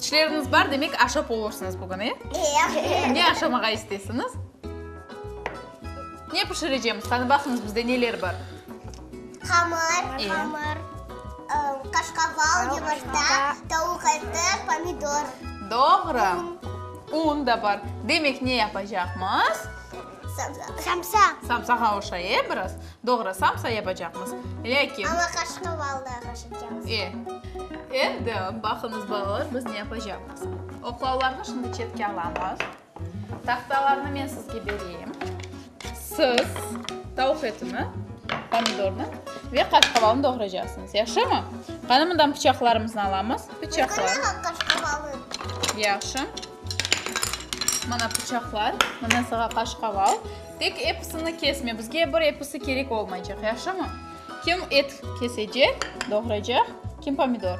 Tişleriñiz bar, demek, aşap olursıñız bugün, e? Ne aşamağa istesiñiz? Ne pişirecemiz? Tanıbasıñız, bizde neler bar? Hamır. Hamır. Qaşqaval, yumurta, tavuq eti, pomidor. Doğru. Un da bar. Demek, ne yapacaqmız? Samsa. Samsa. Samsağa oşaye biraz. Doğru, samsa yapacaqmız. Lâkin. Amma qaşıqqa balda qoşacaqmız. E, endi baqıñız, balalar, biz ne yapacaqmız. Oqlavlarnı şimdi çetke alamız. Tahtalarnı men sizge bereyim. Siz tavuq etini, pomidornı ve qaşqavalnı doğraycaqsıñız. Yahşımı? Qani, mından pıçaqlarımıznı alamız. Pıçaqlar. Qani, qaşqavalı. Yahşı. Mana pıçaqlar, mana saña qaşqaval. Tek episini kesme, bizge bir episi kerek olmaycaq, yahşımı? Kim et kesecek, doğraycaq, kim pomidor?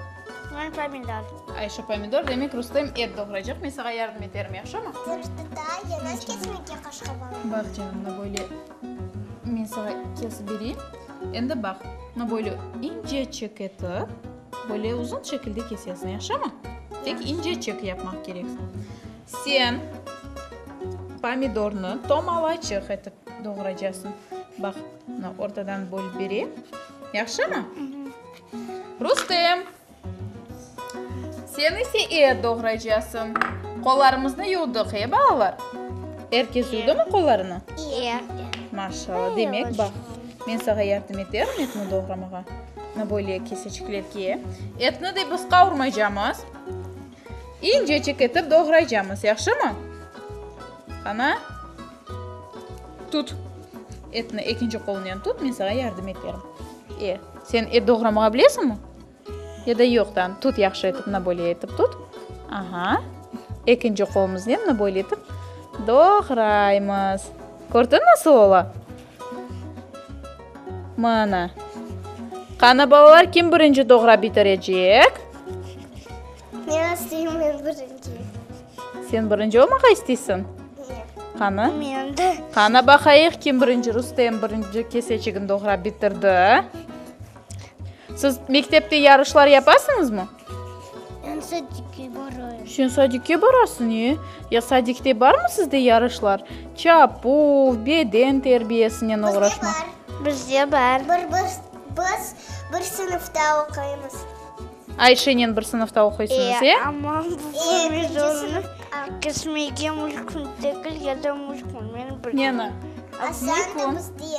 Men pomidor. Ayşe pomidor, demek, Rustem et doğraycaq, men saña yardım eterim, yahşımı? Bax, canım, mına böyle men saña kesip bereyim. Endi bax, mına böyle incecik etip. Böyle uzun şekilde kesesıñ, yahşımı? Tek ince çek yapmaq kerek. Sen pomidornı tomalaçıq etip doğraycasıñ. Baq, mına ortadan bölüp berem. Yahşımı? Rustem, sen ise et doğraycasıñ. Qollarımıznı yuvdıq, e, balalar? Er kes yuvdımı qollarını? Er kes. Maşallah. Demek, baq, men sağa yardım eterim etni doğramağa. Bunı böyle keseçiklerge etni de biz qavurmaycamız. İncecik etip doğraycamız, yahşımı? Qana, tut. Etni ekinci qolunen tut, men sağa yardım eterim. E, sen et doğramağa bilesiñmi? Ya da yoq, tamam, tut yahşı etip, bunı böyle etip tut. Aha. Ekinci qolumıznen bunı böyle etip doğraymız. Kördiñ, nasıl ola? Mana. Qani, balalar, kim birinci doğrap bitirecek? Ne isteyim men birinci. Sen birinci olmağa isteysiñ? Qani? Men de. Qani, baqayıq, kim birinci? Rustem birinci kesecigini doğrap bitirdi. Siz mektepte yarışlar yapasıñızmı? Ben sadikke barayım. Sen sadikke barasıñ, e? Ya sadikte barmı sizde yarışlar? Çapuv, beden terbiyesinen oğraşmaq. Bizde bar. Biz bir sınıfta oquymız. Ayşenen bir sınıfta oquysıñız, e? Amma provizornı kesmege mümkün degil ya da mümkün. Neni? Aslan da bizde.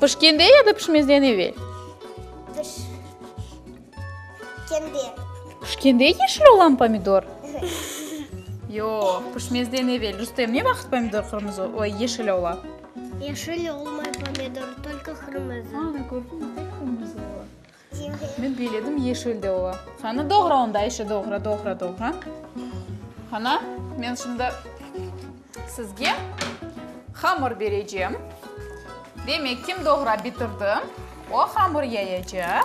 Pişkende ya da pişmezden evel? Pişkende. Pişkende yeşil olan pomidor? Yoq, pişmezden evel. Rustem, ne vaqıt pomidor qırmızı, oy, yeşil ola? Yeşil olmay pomidor, tolko qırmızı. Ana, kördiñmi, tek qırmızı ola. Men beyledim, yeşil de ola. Qani, doğra onda, işi doğra, doğra, doğra. Qana, men şimdi sizge hamır berecem. Demek, kim doğra bitirdi, o hamır yayacaq.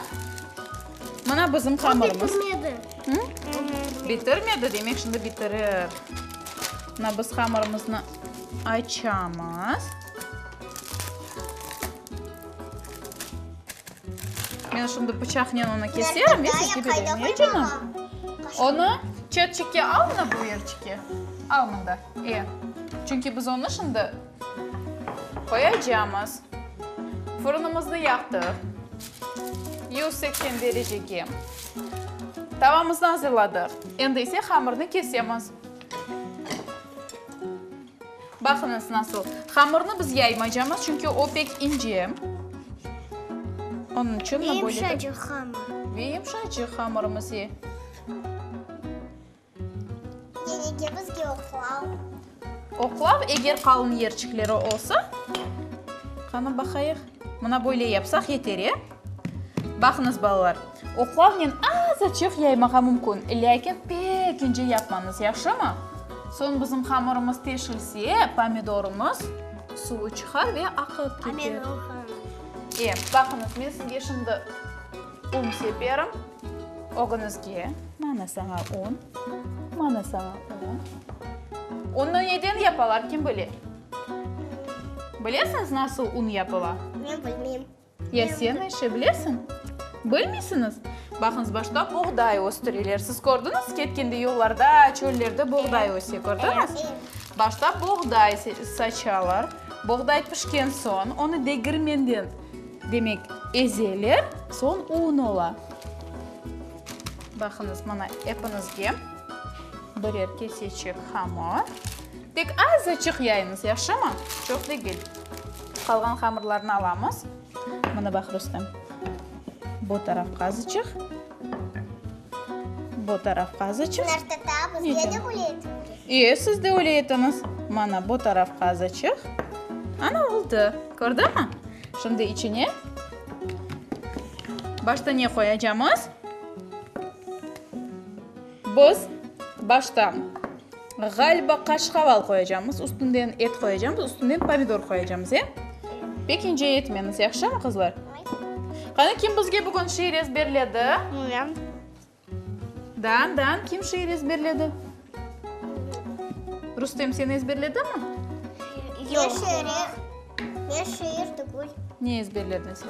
Mına bizim hamırımız. O bitirmedi. Hı? Bitirmedi, demek, şimdi bitirir. Mına biz hamırımıznı açamız. Men şimdi pıçaqnen onı keserim ve kesip berem, e, canım? Onı çetçikke al, mına bu yerçikke. Al mında, e. Çünki biz onı şimdi qoyacamız. Fırınımıznı yaqtıq. Yüz seksen derecege. Tavamıznı azırladıq. Endi ise hamırnı kesemiz. Baqıñız nasıl. Hamırnı biz yaymacamız, çünki o pek ince. Onıñ içün böyle. Ve yımşacıq hamır. Ve yımşacıq hamırımız. Oqlav, eger qalın yerçikleri olsa, qanı baqayıq. Mına böyle yapsaq yeter, e? Baqıñız, balalar. Oqlavnen az açıq yaymağa mümkün, lâkin pek ince yapmañız, yahşımı? Soñ bizim hamırımız teşilse, pomidorımız suvı çıqar ve aqıp keter. E, baqıñız, men sizge şimdi un seperim, ögünizge. Mana saña un, mana saña un. Unnı neden yapalar, kim bile? Bilesiñiz, nasıl un yapıla? Men bilmeyim. Ya sen işi bilesiñ? Bilmeysiñiz? Baqıñız, başta buğday östüreler. Siz kördiñiz, ketkende yollarda, çöllerde buğday öse, kördiñiz? Başta buğday saçalar. Buğday pişken soñ, onı degirmende, demek, ezeler, soñ un ola. Baqıñız, mana, epiñizge birer keseçek hamır. Tek azaçıq yayıñız, yahşımı? Çoq degil. Qalğan hamırlarnı alamız. Mına baq, Rustem, bu tarafqa azıçıq, bu tarafqa azıçıq. Bunlar tatabız, Nece? ya da öyle etmemiz. İyi, siz de öyle etiniz. Mana bu tarafqa azıçıq. Ana oldu. Kördünmi? Şimdi içine başta ne qoyacağımız? Biz başta, ğaliba, qaşqaval qoyacamız, üstünden et qoyacamız, üstünden pomidor qoyacamız, e? Pek ince etmeniz, yahşımı, qızlar? Qani, kim bizge bugün şiir ezberledi? Men. Dan, Dan, kim şiir ezberledi? Rustem, sen ezberledimi? Yoq. Yoq. Men şiir tügül. Ne ezberledin sen?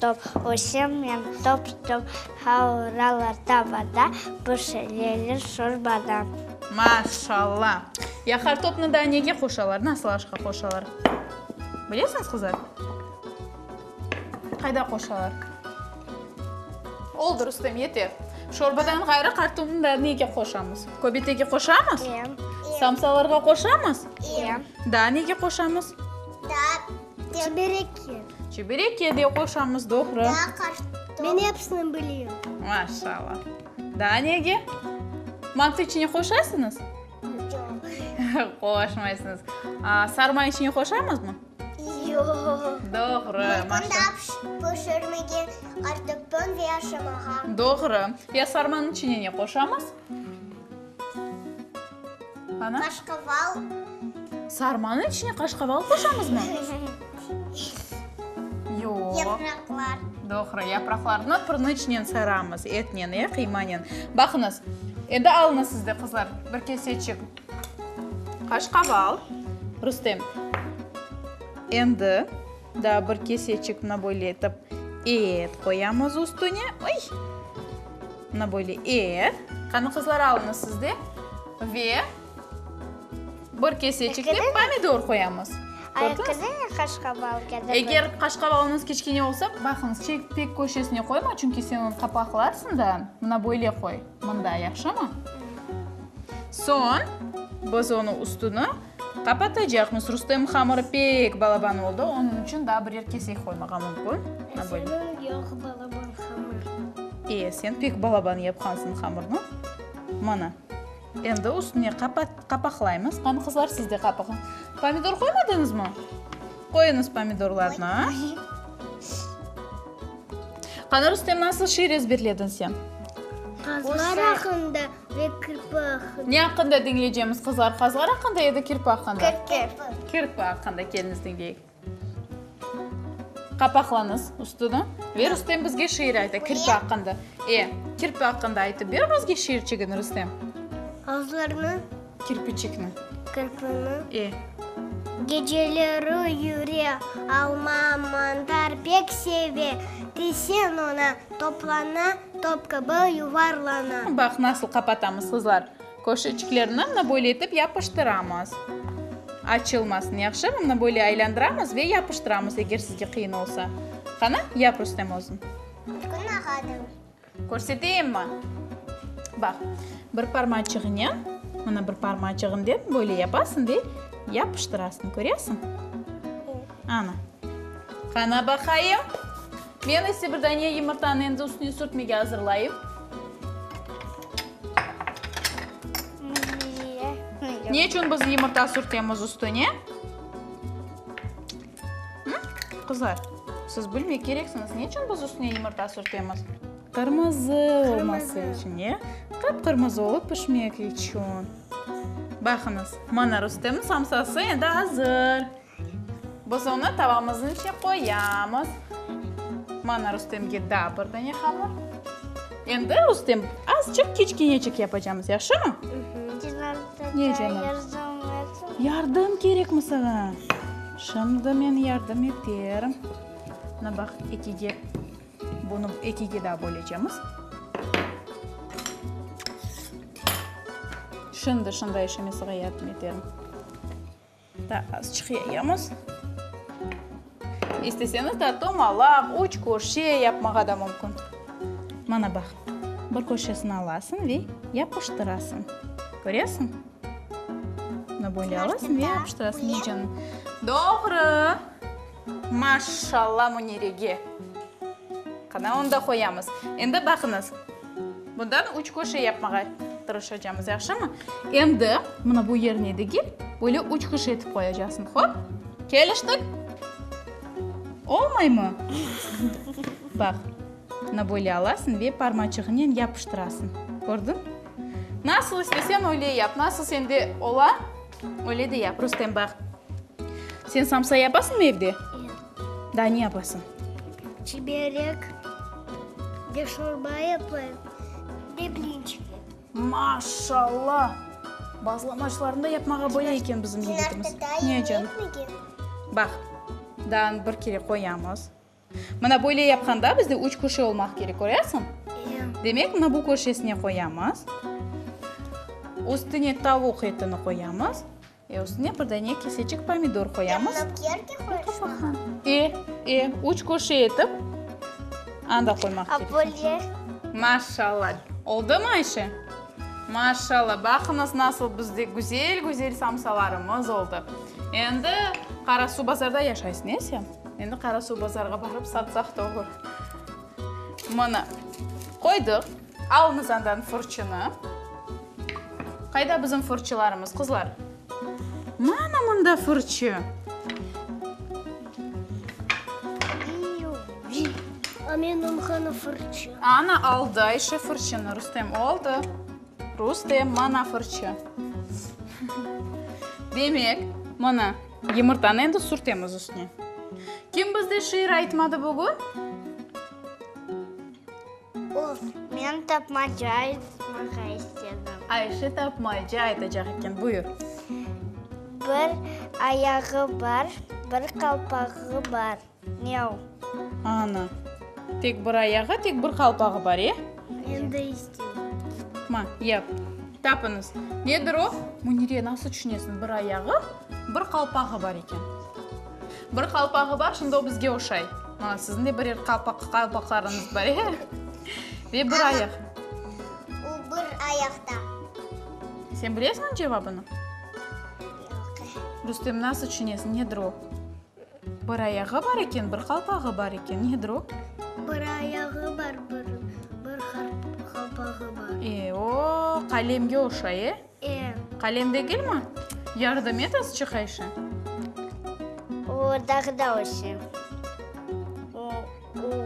Top ösem men top-top havralar tavada, pişireler şorbada. Maşalla! Ya qartopnı da nege qoşalar, nasıl aşqa qoşalar? Bilesiñiz, qızlar? Qayda qoşalar? Oldı, Rustem, yeter. Şorbadan ğayrı qartopnı da nege qoşamız? Köbetege qoşamız? Samsalarğa qoşamız? Daa nege qoşamız? Çebereke. Çebereke de qoşamız, doğru. Daa qartop. Men episini bileyim. Maşallah. Daa nege? Mantı içine qoşasıñız? Yoq. Qoşmaysıñız. Aa, sarma içine qoşamızmı? Yoq. Doğru. Pişirmege qartoptan ve aşamağa. Doğru. Ya sarmanıñ içine ne qoşamız? Ana? Qaşqaval. Sarmanıñ içine qaşqaval qoşamızmı? Yoq. Yapraqlar. Doğru, yapraqlarnı pırnı içinen saramız, etnen, e, qıymanen. Baqıñız, endi alıñız siz de, qızlar, bir keseçik qaşqaval. Rustem, endi. Daa bir keseçik mına böyle etip et qoyamız üstüne. Oy! Mına böyle et. Qani, qızlar, alıñız siz de ve bir keseçik de pomidor qoyamız. Kördiñizmi? Eger qaşqabalıñız kiçkene olsa, baqıñız, pek köşesine qoyma, çünki sen onı qapaqlarsıñ da. Mına böyle qoy, mında, yahşımı? Soñ biz onı üstüne. Qapatacaqmız. Rustem hamırı pek balaban oldı, onıñ içün daa birer kesek qoymağa mümkün. E, senin yoq balaban hamır. E, sen pek balaban yapqansıñ hamırnı. Mana, endi üstüne qapaqlaymız. Qani, qızlar, siz de qapaqlañ. Pomidor qoymadıñızmı? Qoyuñız pomidorlarnı. Qani, Rustem, nasıl şiir ezberlediñ sen? Qazlar aqında Ve kirpi aqqında. Ne aqqında diñleycemiz, qızlar? Qazlar aqqında ya da kirpi aqqında? Kirpi. Kirpi aqqında. Keliñiz, diñleyik. Qapaqlañız üstüni. Ve Rustem bizge şiir ayta, kirpi aqqında. E, kirpi aqqında aytıp ber bizge şiirçigini, Rustem. Azlarnı. Kirpiçikni. Kirpini. E. Geceleri yüre alma, mantar pek seve. Tisen ona, toplana. Top kibi yuvarlana. Baq, nasıl qapatamız, qızlar. Köşeçiklerni mına böyle etip yapıştıramız. Açılmasın, yahşımı? Mına böyle aylandıramız ve yapıştıramız, eger sizge qıyın olsa. Qana, yap, Rustem, özün. Bugün ağadım. Körseteyimmi? Baq, bir parmaçığınen, mına bir parmaçığınen böyle yapasıñ ve yapıştırasıñ, köresiñ? Ana. Qana baqayım. Men ise bir dane yımırtanı endi üstüne sürtmege azırlayım. Ne içün biz yımırta sürtemiz üstüne? Qızlar, siz bilmek kereksiñiz, ne içün biz üstüne yımırta sürtemiz? Qırmızı olması içün, ya? Qıpqırmızı olıp pişmek içün. Baqıñız, mana Rustemniñ samsası endi azır. Biz onı tavamıznıñ içine qoyamız. Mana Rustemge daa bir dane hamır. Endi Rustem azçıq kiçkeñecik yapacamız, yahşımı? Yardım kerekmi saña? Şimdi men yardım eterim. Mına baq, ekige, bunı ekige daa böleceğimiz. Şimdi, şimdi Ayşe, men saña yardım eterim. Daa azçıq yayamız. İsteseñiz de tomalaq, üç köşe yapmağa da mümkün. Mana baq, bir köşesini alasıñ ve yapıştırasıñ. Köresiñ? Bunı böyle alasıñ ve yapıştırasıñ. Doğru! Maşşalla Munirege! Qana, onı da qoyamız. Endi baqıñız, bundan üç köşe yapmağa tırışacamız, yahşımı? Endi mına bu yerine degil, böyle üç köşe etip qoyacaqsıñ. Hop! Keliştik? Olmaymı? Baq, mına böyle alasıñ ve parmaçığınen yapıştırasıñ. Kördiñ? Nasıl isteseñ, öyle yap. Nasıl sende ola, Öyle de yap, Rustem, baq. Sen samsa yapasıñmı evde? Yoq. Daa ne yapasıñ? Çiberek, de şorba yapayım, de blinçik yapayım. Maşalla! Bazlamaçlarnı da yapmağa boya eken bizim yigitimiz. Ne, canım? Baq, daanı bir kere qoyamız. Mına böyle yapqanda bizde üç köşe olmaq kerek, köresiñ? Demek, mına bu köşesine qoyamız. Üstüne tavuq etini qoyamız. E, üstüne bir dane kesecik pomidor qoyamız. E, e, üç köşe etip, anda qoymaq kerek. Maşallah. Oldumı, Ayşe? Maşallah. Baqıñız, nasıl bizde güzel-güzel samsalarımız oldı. Endi Qarasuvbazarda yaşaysıñ, e, sen? Endi Qarasuv bazarğa barıp satsaq da olur. Mına, qoydıq. Alıñız andan fırçını. Qayda bizim fırçılarımız, qızlar? Mana mında fırçı. A menim hanı fırçı? Ana aldı Ayşe fırçını, Rustem oldı. Rustem, mana fırçı. Demek, mına. Yımırtanı endi sürtemiz üstüne. Kim bizde şiir aytmadı bugün? Uf, men tapmaca aytmağa istedim. Ayşe tapmaca aytacaq eken, buyur. Bir ayağı bar, bir qalpağı bar. Miau. Ana. Tek bir ayağı, tek bir qalpağı bar, e? Men de isteyim. Ma, yap. Tapıñız. Nedir o? Munire, nasıl tüşünesiñ? Bir ayağı, bir qalpağı bar eken. Bir qalpağı bar, şimdi o bizge oşay. Mana, siziñ de birer qalpaqlarıñız bar, e? Ve bir ayaq. O bir ayaqta. Sen bilesiñ cevabını? Yoq. Rustem, nasıl tüşünesiñ? Nedir o? Bir ayağı bar eken, bir qalpağı bar eken. Nedir o? Bir ayağı bar, bir qalpağı bar. E, o qalemge oşay, e? E. Qalem degilmi? Yardım et azçı qayşı. O dağda oşay. Bu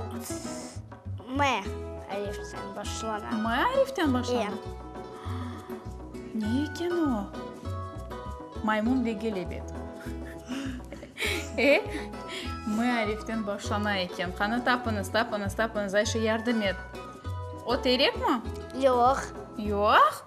M ariften başlana. M ariften başlana? İya. Ne eken o? Maymun ve kelebek. E, M ariften başlana eken. Qanı tapıñız, tapıñız, tapıñız. Ayşe, yardım et. O terekmi? Yoq. Yoq?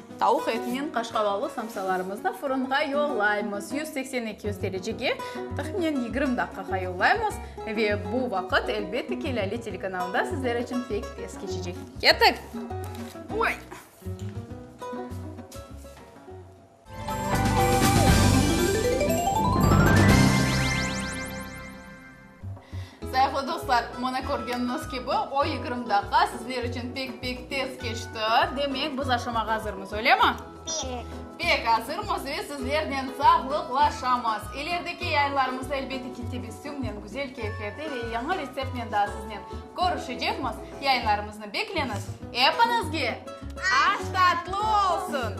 Tavuq etinen qaşqavalı samsalarımıznı fırınğa yollaymız, yüz seksen, eki yüz derecege, tahminen yigirmi daqqağa yollaymız, ve bu vaqıt, elbette ki, Lâle telekanalında sizler içün pek tez keçecek. Kettik! Oy! Sayıqlı dostlar, mına körgeniñiz kibi, o yigirmi daqiqa sizler içün pek-pek tez keçti. Demek, biz aşamağa azırmız, öylemi? Pek. Pek azırmız ve sizlernen sağlıqlaşamız. İlerideki yayınlarımızda, elbette ki, tebessümnen, güzel keyflerde ve yañı retseptnen daa siznen körüşecekmiz. Yayınlarımıznı bekleñiz. Epiñizge aş tatlı olsun!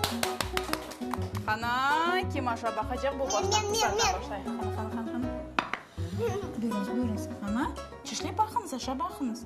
Qana, kim aşa baqacaq, bu baştan qızarta başlay. Qana, qana, qana, qana. Buyurıñız, buyurıñız, ana, çişlep baqıñız, aşav baqıñız.